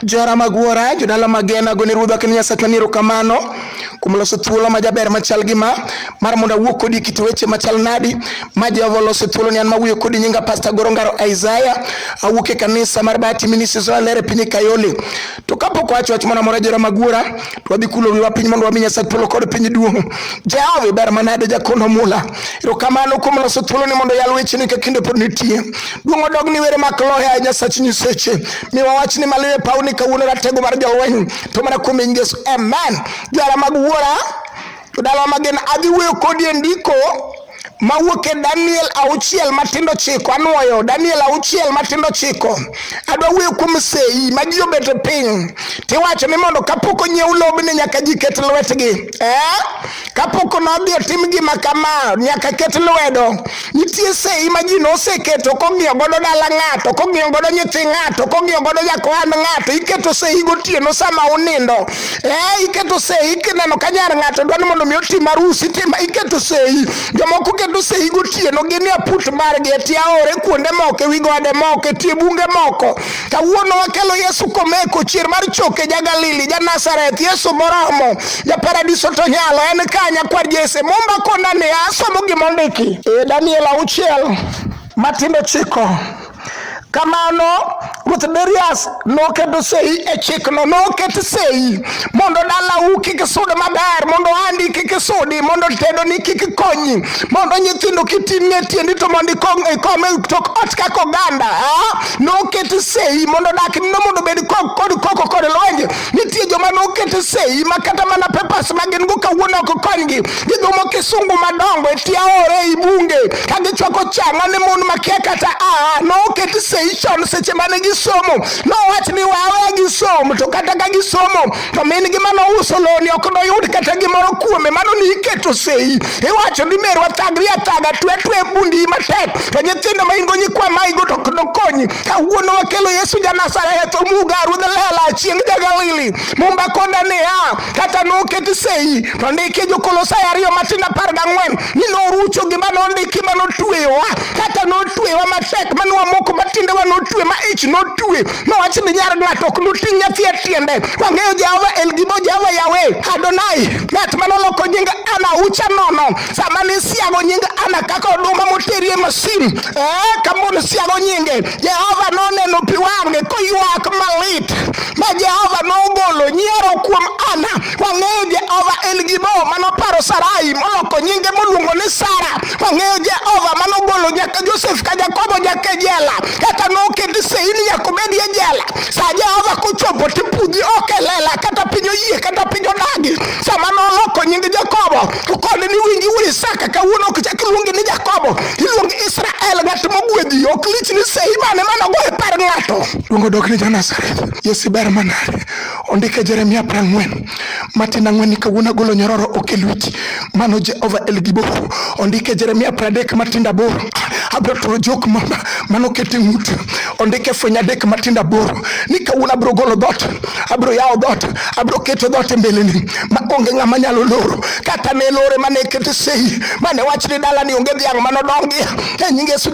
Jora mag wuora, jodala magena, gone ruodha kendo Nyasacha ni erokamano kuom loso thuolo ma jaber machal gi ma mar mondo awuo kodi kit weche machal nadi ma Jehova oloso thuolo ni an mawuoyo kodi nyinga Pastor Goro Ngaro Isaiah awuok e kanisa mar Bahati Ministries Olere piny Kayole to kapok wacho wach moro amora jora mag wuora to wadhi kulo wiwa piny mondo wami Nyasaye thuolo kod piny duong'. Jehova iber manade jakono mula. Erokamano kuom loso thuoloni mondo yal wecheni ka kinde pod nitie. Duong' odog ni were mak lohe a Nyasach nyiseche. Mi wawach ni maliwe paw ni kawuono ratego mar jolweny to mana kuom in Yesu. Amen. Jwala mag wuora, jodalawa magen adhi wuoyo kodi e ndiko mawuok e Daniel auchiel matindo chiko anwoyo Daniel auchiel matindo chiko adwa wuoyo kuom sei ma ji obet e piny tiwacho ni mondo kapok onyiew lobni nyaka ji ket lwetgi eh? kapok nodhi otim gima kama nyaka ket lwedo nitie sei ma ji noseketo kong'iyo godo dala ng'ato kong'iyo godo nyithi ng'ato kong'iyo godo jakohand ng'ato iketo sei gotieno sama unindo Eh, iketo sei kineno ka nyar ng'ato dwa ni mondo mi otim arus itima iketo sei jomoko keto sei gotieno gini aput margi e tie aore kuonde moko e wi gode moko e tie bunge moko kawuono wakelo yesu komeko chier mar choke ja galili ja nazareth yesu moromo ja paradiso to nyalo en ka nyakwar jese momba kona ni asomo gimondiki e daniel auchiel matindo chiko Kamano Ruoth Darius noketo sei e chikno, noket sei mondo dalau kik sud maber, mondo andi kik sudi, mondo tedoni kik konyi, mondo nyithindo kiting'e tiendi to mondo ikong- ikom e tok ot kaka oganda. ah? Noket sei mondo dakni mondo obed kok- kod koko kod lwenje Nitie joma nokete sei ma kata mana pepas ma gin go kawuono ok konygi. Gidhumo kisungu madongo e tie aore ei bunge ka gichwako chang'a ne mon makia kata a noket sei chon seche mane gisomo. Nowach ni wawe gisom to kata ka gisomo to min gi mano uso loni ok noyud kata gimoro kuome mano ni iketo sei. Iwacho ni merwa thagri athaga twe twe bundi matek to nyithindo ma in go nyikwa ma igo to ok nokonyi. kawuono wakelo Yesu ja Nazareth omuga ruodh lela chieng' ja Galili mumba koda niya kata noketi sei to ndiki jokolosai ariyo matindo apar gang'wen ni norucho gima nondiki ma notweyowa kata notweyowa matek ma nwamoko ma tiendewa notwe ma ich notwe nowach ni nyar ng'ato ok noting' nyathi e tiende wang'eyo Jehova El Gibo Jehova Yawe Adonai ng'at ma noloko nying ana ucha nono sama nisiago nying ana kaka oduma moterie masin eh, kama nisiago nyinge jehova noneno pi wang'e koywak malit ma jehova nogolo nyiero kuom ana wang'eyo jehova en gibo manoparo sarai moloko nyinge moluongo ni sara wang'eyo jehova manogolo nyaka josef ka jakobo nyaka jela kata noketi seini yakobedie jela sa jehova kochopo tipudhi okelela kata piny oyie kata piny odagi sama noloko nying jakobo To koni ni winji wuod Isaka kawuono ok chak luongi ni Jakobo, iluongi Israel, ng'at mogwedhi. Ok lich ni sei mane mane ogo e par ng'ato. Luongo dok ni Jonazareth. Yesu ber manade. Ondike Jeremia apar ang'wen. Matin ang'wen ni kawuono agolo nyororo ok e lweti. Mano Jehova El Gibor. Ondike Jeremia apar adek matin aboro. Abiro turo jok ma- ma- mane oket e ng'ut. Ondike fweny adek matin aboro. Ni kawuono abiro golo dhoot. Abiro yawo dhoot. Abiro keto dhoot e mbeleni. ma onge ng'ama nyalo loro kata ne lore mane ekete sei mane wach ni dala ni onge dhiang' mano dongi e nyinge su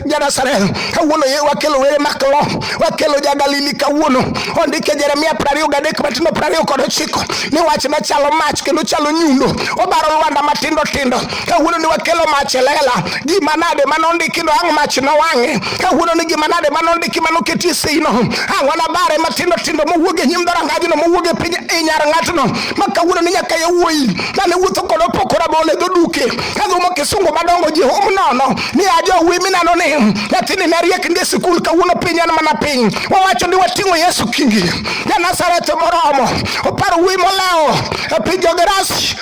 janasarel kawuono ye wakelo were maklo wakelo jagalili kawuono ondike jeremia prariyo gadek matindo prariyo kod ochiko ni wach machalo mach kendo chalo nyundo obaro lwanda matindo tindo kawuono ni wakelo mach e lela gima nade ma nondiki no ang' mach nowang'e kawuono ni gima nade ma nondiki ma noketi seino ang' wanabare matindo tindo mowuog e nyim dhorangajno mowuog e piny e nyar ng'atno ma kawuono ni nyaka yawuoyi mane wuotho kod opoko rabolo e dho duke kadhumo kisungu madongo ji hum nono ni ajo wuoyi minano ni nyathini ne riek ndi e sikul kawuono piny en mana piny wawacho ni wating'o yesu kingi ja nazareth moromo oparo wuoyi molewo e piny jogerasi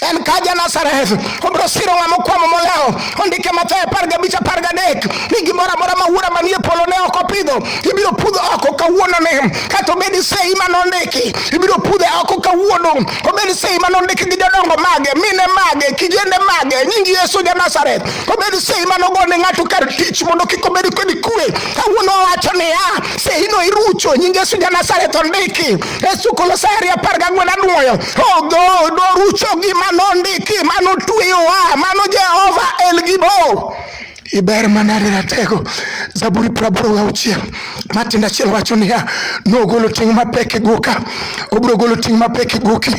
en ka ja Nazareth obiro siro ng'ama okwamo molewo ondike Mathayo apar gabich apar gadek ni gimoro amora ma wuora manie polo ne ok opidho ibiro pudho oko kawuononi kata obed sei ma nondiki ibiro pudhe oko kawuono obed sei ma nondiki gi jodongo mage mine mage kijende mage nying Yesu ja Nazareth obed sei ma nogo ne ng'ato kar tich mondo kik obed kod kwe kawuono owacho niya seino irucho nying Yesu ja Nazareth ondiki e Kolosai apar gang'wen anuoyo Chogo norucho gi mano ndiki mano tweyowa mano Jehova en gi bo iber mana ne ratego zaburi praboro ga uchiel matindo achiel wacho niya nogolo ting' mapek e goka obiro golo ting' mapek e goki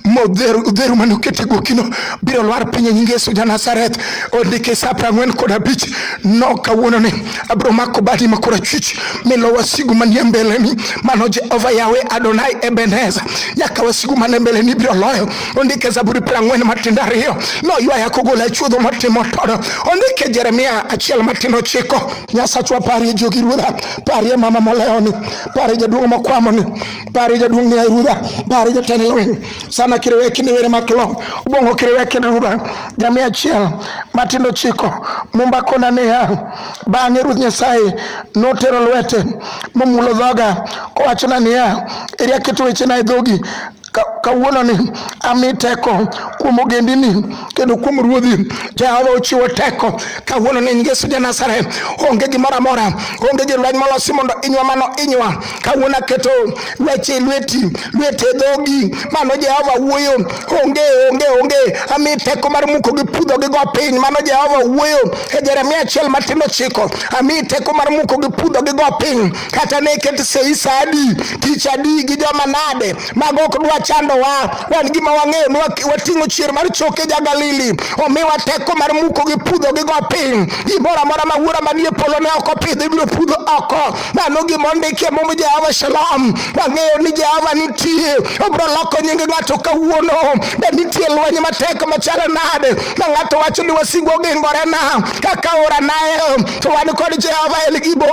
modheru mane oket e gokino biro lwar piny e nying Yesu ja Nazareth ondike sa piero ang'wen kod abich no kawuononi abiro mako badi ma korachwich milo wasigu manie mbeleni mano jehova yawe adonai ebeneza nyaka wasigu mane mbeleni biro loyo ondike zaburi prang'wen matindo ariyo noywaya kogola chuodho matimo todo ondike jeremia achiel matindo ochiko nyasachwa parie jogi ruodha parie mama molewoni parie jaduong' mokwamoni parie jaduong' ni ruodha parie jatend lweny sana kiriweki ni were maklo ubongo kiriweki ni ruba jamii achiel matindo chiko mumba kona niya bang'e ruoth nyasaye notero lwete momulo dhoga kowachona niya eri aketo wechena e dhogi kawuono ni ami teko kuom ogendini kendo kuom ruodhi jehova ochiwo teko kawuono ni yesu ja nazareth onge gimoro amora onge gi lweny molosi mondo inywa mano inywa kawuono aketo weche e lweti lwete dhogi mano jehova wuoyo onge onge onge ami teko mar muko gi pudho gi go piny mano jehova wuoyo e jeremia achiel matin ochiko ami teko mar muko gi pudho gi go piny kata ne ket sei sa adi tich adi gi joma nade mago ok dwa chandowa wan gima wang'eyo ni wating'o chier mar choke ja galili omiwa teko mar muko gi pudho gi go piny gimoro amora ma wuora manie polo ne ok opidh ibiro pudho oko Mano gima ondikie mum Jehova Shalom. Wang'eyo ni Jehova nitie. Obiro loko nying ng'ato kawuono. Be nitie lweny matek machalo nade? Ma ng'ato wacho ni wasigu ogingorena kaka ora nael. To wan kod Jehova El Gibo.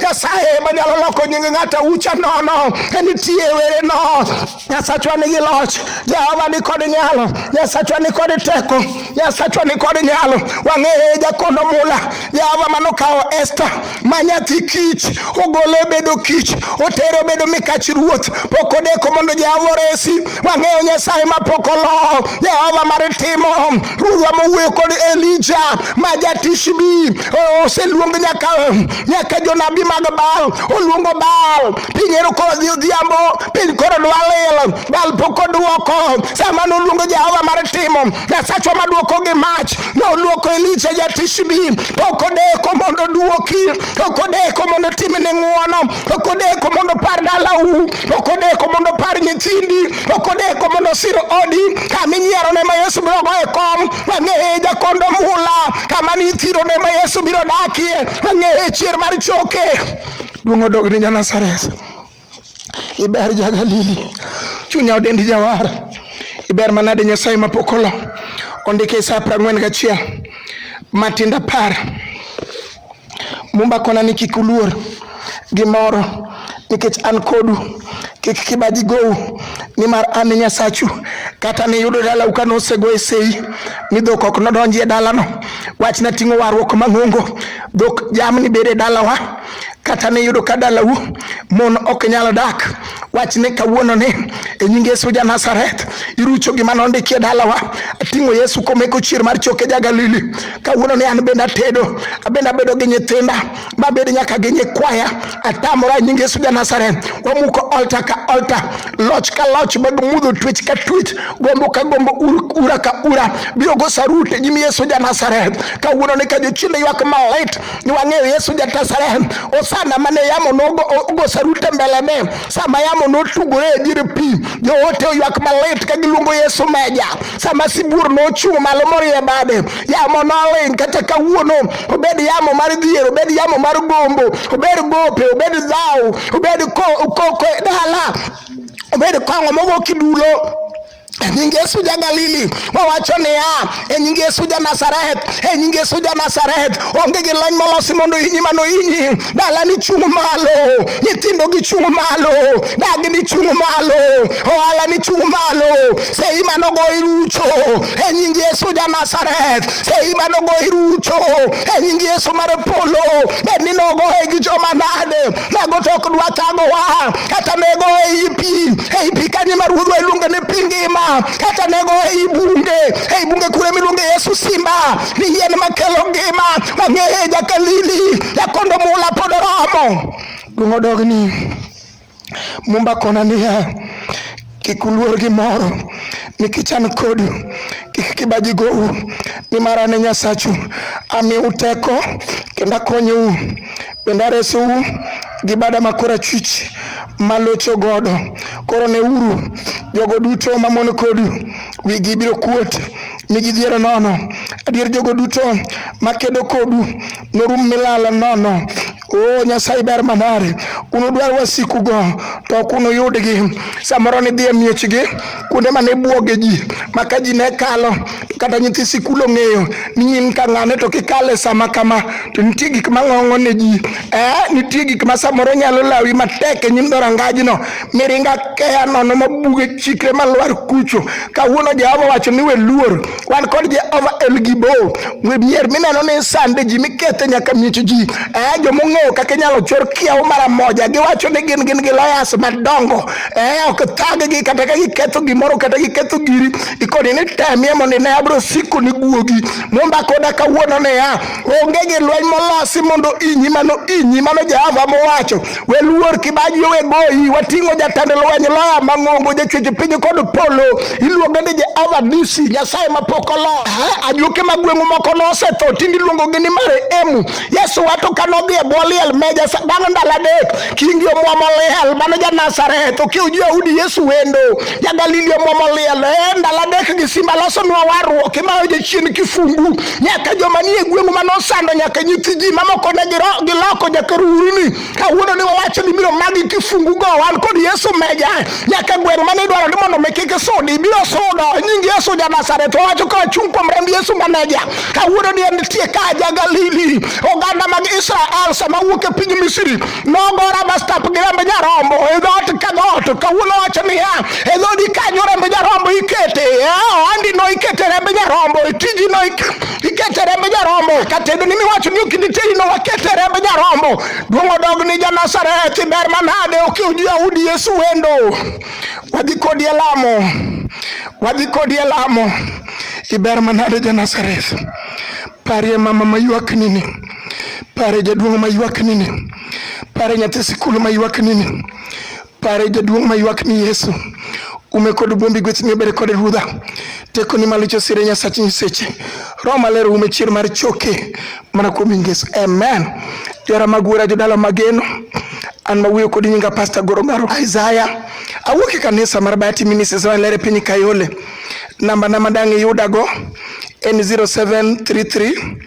Nyasaye manyalo loko nying ng'ato ucha nono. Nitie wereno. Nyasachwa nigi loch, Jehova ni kod nyalo, Nyasachwa ni kod teko, Nyasachwa ni kod nyalo. Wang'eye jakondo mula, Jehova manokawo Esta ma nyathi kich, ogole obedo kich, otere obedo mikach ruoth, pok odeko mondo Jehova oresi. Wang'eyo Nyasaye ma pok olo, Jehova mar timo, Ruodhwa mowuoyo kod Elija ma jatishbi, oseluong nyaka nyaka jonabi mag Baal, oluongo Baal, piny ero kodhi odhiambo piny koro dwa lil bal pok oduoko sama noluongo jehova mar timo nyasachwa maduoko gi mach noluoko elija jatishbi pok odeko mondo oduoki pok odeko mondo timne ng'uono pok odeko mondo par dalau pok odeko mondo par nyithindi pok odeko mondo sir odi kama inyierone ma yesu biro goye kom wang'eye jakondo mula kama nithirone ma yesu biro dakie wang'eye chier mar choke duong' odog ni ja nasaret iber jagalili chunya odendi jawar iber manade nyasaye mapok olo ondike isa apar ang'wen gachiel matindo apar mumba kona ni kik uluor gimoro nikech an kodu kik kibaji gou nimar an e nyasachu kata niyudo dalau ka nosego e sei ni dhok ok nodonji e dalano wachna ting'o warruok mang'ongo dhok jamni bedo e dalawa kata ne yudo ka dalau mon ok nyal dak wach ni kawuono ni e nying yesu ja nazareth irucho gima nondikie dalawa ating'o yesu komeko chier mar choke ja galili kawuono ni an bende atedo abende abedo gi nyithinda mabed nyaka gi nyikwaya atamora e nying yesu ja nazareth wamuko olta ka olta loch ka loch mag mudho twech ka twech gombo ka gombo ura ka ura biro go sarute e nyim yesu ja nazareth kawuono ni ka jochiende ywak malit ni wang'eyo Yesu ja Nazareth. Osana mane yamo nogo sarute mbelene sama yamo notugore e dier pi, joote oywak malit ka giluongo Yesu meja. Sama sibuor nochung' malo morie bade, yamo noling' kata kawuono, obed yamo mar dhier, obed yamo mar gombo, obed gope, obed dhaw, obed koko e dala, obed kong'o mogo kidulo E nying Yesu ja Galili, wawacho niya, e nying Yesu ja Nazareth, e nying Yesu ja Nazareth, onge gi lony molosi mondo hinyi mano hinyi. Dalani chung' malo, nyithindogi chung' malo, dagni chung' malo, ohalani chung' malo. Sei mano go irucho, e nying Yesu ja Nazareth, sei mano go irucho, e nying Yesu mar polo, bed ni nogoye gi joma nade, mago to ok dwa thagowa kata nego ei pi ei pi kanyo ma ruodhwa iluongo ni pi ngima kata nego ei bunge ei bunge kure miluongo yesu simba ni yien makelo ngima wang'eye jakalili jakondo mula pod oromo dong' odogni mumba kona niya Kik uluor gimoro, nikech an kodu. Kik kibaji gou, nimar an e Nyasachu. Amiu teko kendo akonyou, bende aresou gi bada ma korachwich malocho godo. Koro neuru, jogo duto mamon kodu wigi biro kuot mi gidhier nono. Adier jogo duto makedo kodu norum milal nono. O Nyasaye ber manade, unudwar wasikugo to ok unuyudgi. Samoro nidhi e miechgi kuonde ma ne bwoge ji ma ka ji ne kalo to kata nyithi sikul ong'eyo ni in ka ng'ane to kikale sama kama to nitie gik ma ng'ong'o ne ji. Eh, nitie gik ma samoro nyalo lawi matek e nyim dhorangajno miringa keya nono ma buge chikre ma lwar kucho. Kawuono Jehova wacho ni we luor wan kod Jehova El Gibor, mier mineno ni sande ji mikethe nyaka miech ji. Eh, joma ong'eyo kaka inyalo chor kiewo mara moja, giwacho ni gin gin gi lawyers madongo. Eh, ok thaggi kata ka giketho gimoro kata giketho giri, ikoni ni temie mondo ine abiro siko ni guogi. Mumba koda kawuono niya, onge gi lweny molosi mondo inyi mano inyi mano Jehova mowacho. Weluor Kibaji owe goyi, wating'o jatend lweny loya mang'ongo jachweche piny kod polo, iluonge ni Jehova Nisi, Nyasaye mapok olo. Ajuoke ma gweng'u moko nosetho, tinde iluongogi ni mare emu. Yesu wato ka nodhi e bwo liel meja bang' ndalo adek, kingi omwomo liel, mano ja Nazareth, okiw jo-Yahudi Yesu wendo, ja Galili omwomo liel, e ndalo adek gi simba losonwa warruok, imayo jachien kifungu. nyaka joma nie gweng'u ma nosando nyaka nyithi ji mamoko ne giloko nyaka ruuruni kawuono ni wawacho ni biro magi kifungu go wan kod yesu meja nyaka gweng' mane idwaro ni mondo mi kik isudi ibiro sudo nying yesu ja nasaret owacho ka wachung' kuom remb yesu maneja kawuono ni en nitie ka ja galili oganda mag israel sama wuok e piny misri nogora bastap gi remb nyarombo e dhoot ka dhoot kawuono wacho niya e dhodi kanyo remb nyarombo ikete ohandino eh, ikete remb nyarombo e tijino ikete remb nyarombo katedo ni miwacho ni okinditeyino wakete remb nyarombo duong' odog ni janasareth ber manade okiw ji audi yesu wendo wadhi kodi e lamo wadhi kodi e lamo iber manade janasareth parie mama mayuak nini Pare jaduong' ma ywak nini. Pare nyathi sikul ma ywak nini. Pare jaduong' ma ywak ni Yesu. Ume kod buombi gweth ni obere kod ruodha. Teko ni malicho sire nyasach nyiseche. Roho maler ume chier mar choke mana kuom Yesu. Amen. Jara magwera jodala mageno. An ma wuoyo kodi nyinga Pastor Goro Garo Isaiah. Awuok e kanisa mar Bahati Ministries ma lere piny Kayole. Namba na madang' iyudago en 0733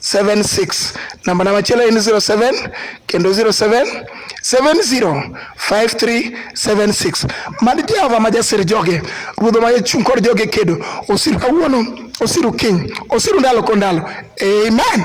76 namba na machielo en 07 kendo 07 705376 mad jehova ma jasir joge ruodho ma jachung' kod joge kedo osiru kawuono osiru kiny osiru ndalo ko ndalo amen